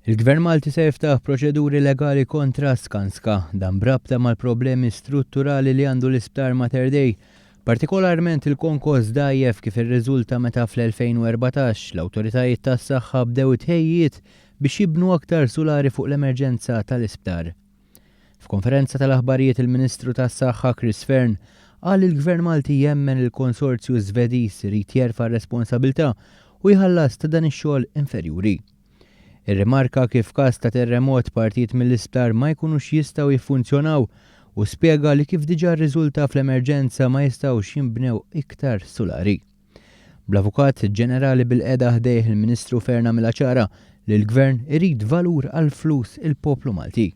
Il-Gvern Malti se jiftaħ proċeduri legali kontra Skanska dan brabta mal-problemi strutturali li għandu l-Isptar Mater Dei, partikolarment il-konkos dajjef kif irriżulta meta fl-2014 l-awtoritajiet tas-saħħa bdew it-tħejjijiet biex jibnu aktar sulari fuq l-emerġenza tal-isptar. F'konferenza tal-aħbarijiet il-Ministru tas-Saħħa Chris Fearne qal li l-Gvern Malti jemmen li l-konsorzju Żvediż irid jerfa' r-responsabilità u jħallas ta' dan ix-xogħol inferjuri. Irrimarka kif f'każ ta' terremot partijiet mill-isptar ma jkunux jistgħu jiffunzjonaw u spjega li kif diġà rriżulta fl-emerġenza ma jistgħux jinbnew iktar sulari. Bl-Avukat Ġenerali bilqiegħda ħdejh il-Ministru Fearne għamilha ċara li l-Gvern irid valur għall-flus il-poplu Malti.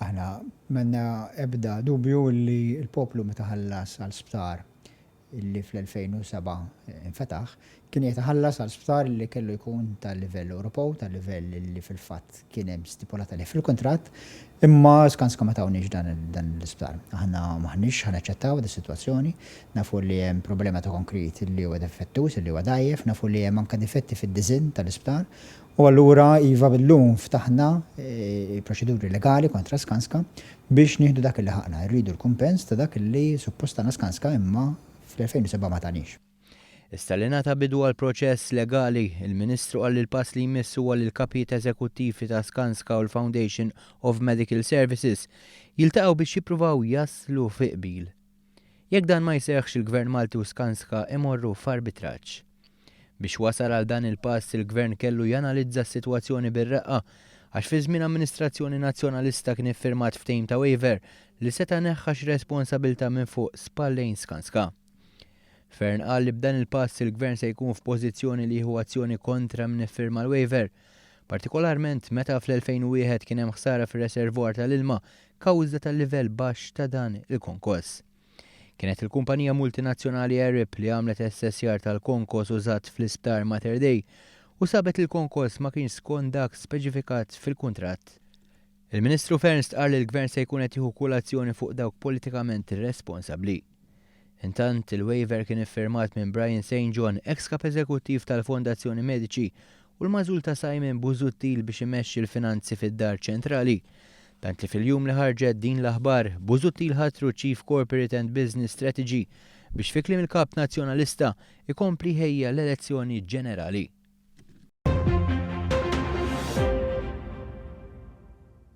Aħna m'għandna ebda dubju li l-poplu meta ħallas għal sptar li fl-2007 infetaħ kien qiegħed iħallas għal sptar li kellu jkun ta' livell Ewropew, ta' livell li fil-fatt Kien hemm stipulat għalih fil-kuntratt, imma Skanska ma tawniex dan l-isptar. Aħna m'aħniex ħa naċċettaw dis-sitwazzjoni. Nafu li hemm problema ta' konkrit li huwa deffettuż, li huwa dgħajjef, nafu li hemm anke difetti fid-diżinn tal-isptar u allura iva llum ftaħna proċeduri legali kontra Skanska biex nieħdu dak li ħaqqna. Irridu l-kumpens ta' dak li suppost tana Skanska imma fl-2007 ma taniex. Issa li ngħata bidu għall-proċess legali, il-Ministru qal li l-pass li jmiss huwa li l-kapijiet eżekuttivi ta' Skanska u l-Foundation of Medical Services jiltaqgħu biex jippruvaw jaslu fi qbil. Jekk dan ma jseħħx il-Gvern Malti u Skanska imorru f'arbitraġġ. Biex wasal għal dan il-pass il-Gvern kellu janalizza s-sitwazzjoni bir-reqqa għax fi żmien amministrazzjoni Nazzjonalista kien iffirmat ftehim ta' waiver li seta' neħħa xi responsabilità minn fuq spallejn Skanska. Fearne qal li b'dan il-pass il-Gvern se jkun f'pożizzjoni li jieħu azzjoni kontra min iffirma l-waiver, partikolarment meta fl-2001 kien hemm ħsara fir-reservoir tal-ilma kawża tal-livell baxx ta' dan il-konkos. Kienet il-kumpanija multinazzjonali Arup li għamlet assessjar tal-konkos użat fl-Isptar Mater Dei u sabet li l-konkos ma kienx skont dak speċifikat fil-kuntratt. Il-Ministru Fearne stqarr li l-Gvern se jkun qed jieħu kull azzjoni fuq dawk politikament responsabbli. Intant, il-waiver kien iffirmat minn Brian Saint John, eks Kap Eżekuttiv tal-Fondazzjoni Medici u l-magħżul ta' Simon Busuttil biex imexxi l-finanzi fid-Dar Ċentrali. Tant li fil-jum li ħarġet din l-aħbar, Busuttil ħatru Chief Corporate and Business Strategy biex fi kliem il-Kap Nazzjonalista, ikompli jħejja l-elezzjoni ġenerali.